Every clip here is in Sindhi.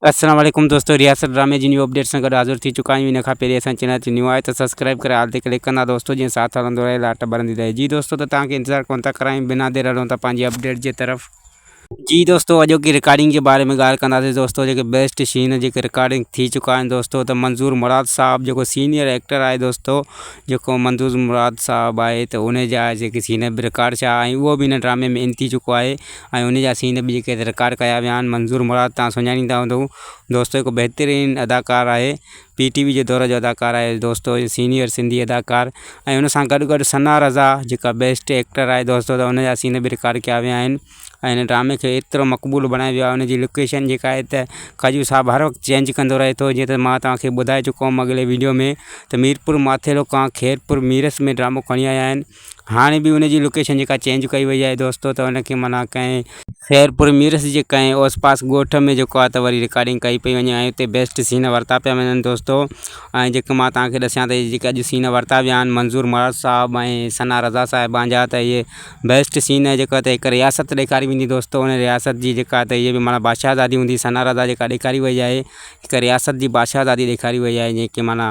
السلام عليڪم دوستو رياست ڊرامي جي نيو اپڊيٽ سان گڏ حاضر ٿي چڪا آهيون ان کان پهرين اسان جي چينل تي نيو آهي ته سبسڪرائيب ڪري آل تي ڪلڪ ڪندا دوستو جيئن ساٿ هلندو رهي لاٽ ٻرندي رهي جي دوستو ته توهان کي انتظار ڪونه ٿا ڪرايون بنا دير هلون ٿا پنهنجي اپڊيٽ جي طرف جي دوستو اڄوڪي رڪارڊنگ جي باري ۾ ڳالهه ڪنداسين دوستو جيڪي بيسٽ شين جيڪي رڪارڊنگ ٿي چڪا آهن دوستو ته منظور مراد صاحب جيڪو سينيئر ايڪٽر آهي دوستو جيڪو منظور مراد صاحب آهي ته ان جا جيڪي سين به رڪارڊ ڇا آهي اهو به ان ڊرامي ۾ ان ٿي چڪو آهي ۽ انهي جا سين به جيڪي رڪارڊ ڪيا ويا آهن منظور مراد توهان سڃاڻيندا هوندؤ دوستو هڪ بهترين اداڪار آهي پي ٽي وي جي دور جو اداڪار آهي دوستو سينيئر سنڌي اداڪار ۽ ان سان گڏ گڏ ثنا رضا جيڪا بيسٽ ايڪٽر آهي دوستو ته ان جا سين به رڪارڊ ڪيا ويا آهن ۽ هن ڊرامي کي ايترو مقبول بڻائي ويو آهي ان جي لوڪيشن جيڪا آهي ته کجو صاحب هر وقت چينج ڪندو رهي ٿو جيئن ته مان توهان کي ٻڌائي چڪو هيم اڳلي ويڊيو ۾ ته ميرپور ماٿيرو کان خيرپور ميرس ۾ ڊرامو کڻي آيا آهن هاڻي به ان جي لوڪيشن جيڪا چينج ڪئي وئي آهي دوستو ته ان کي معنيٰ ڪنهن خيرپور ميرس جي ڪنهن اوس پاس ڳوٺ ۾ جيڪو آهي ته وري رڪارڊنگ ڪئي پئي وڃي ۽ اتي بيسٽ سين ورتا پيا وڃن دوستو ۽ جيڪي مان توهان کي ڏسيان ته جيڪي اڄ سين ورتا ويا آهن منظور مراد صاحب ۽ ثنا رضا صاحبان جا ته اهي بيسٽ سين آهي جيڪا ته هڪ رياست ڏيکاري ويندي دوستو ان رياست جي جيڪا ته اهي به معنيٰ بادشاهزادي هوندي ثنا رضا جيڪا ڏيکاري وئي آهي هڪ رياست جي بادشاهزادي ڏيکاري وئي آهي جيڪي معنيٰ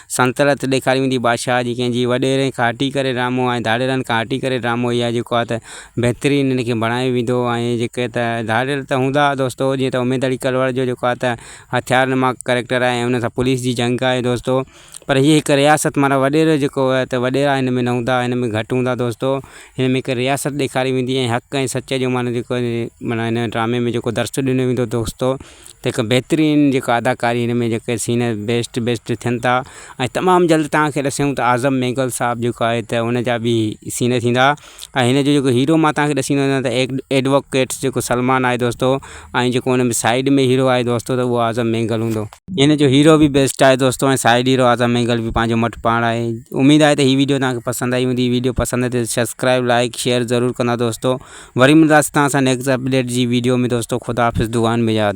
سنترت ڏيکاري ويندي بادشاهه جي ڪنهن جي وڏيرن کان هٽي ڪري ڊرامو ۽ ڌاڙيلن کان هٽي ڪري ڊرامو اهي جيڪو آهي ته بهترين ان کي بڻايو ويندو ۽ جيڪي ته ڌاڙيل ته هوندا دوستو جيئن ته اميد علي ڪلواڙ جو جيڪو آهي ته هٿيار نما ڪريڪٽر آهي ۽ ان سان پوليس جي جنگ آهي دوستو پر هيء هڪ رياست معنيٰ وڏيرو جيڪو آهي ته وڏيرا هن ۾ نه هوندا هن ۾ گهٽ هوندا دوستو هن ۾ هڪ رياست ڏيکاري ويندي ۽ حق ۽ سچ جو معنيٰ جيڪو معنيٰ هن ڊرامي ۾ جيڪو درس ڏنو ويندو دوستو ته هڪ بهترين جيڪا اداڪاري هن ۾ جيڪي سين بيسٽ بيسٽ ٿين ٿا ۽ تمام جلد تان کي ڏسيون ته اعظم مينگل صاحب جيڪو آهي ته هن جا به سين ٿيندا ۽ هن جو جيڪو هيرو مان تان کي ڏسيون ته ايڊ ايڊووڪيٽ جيڪو سلمان آهي دوستو ۽ جيڪو هن ۾ سائيڊ ۾ هيرو آهي دوستو ته اهو اعظم مينگل هوندو هن جو هيرو به بيسٽ آهي دوستو ۽ سائيڊ هيرو اعظم مينگل به پنهنجو مٽ پاڻ آهي اميد آهي ته هي ويڊيو تان کي پسند آئي هوندي هي ويڊيو پسند آئي ته سبسڪرائب لائڪ شيئر ضرور ڪندا دوستو وري ملداس تهان سان نيڪسٽ اپڊيٽ جي ويڊيو ۾ دوستو خداحافظ دعائن ۾ ياد.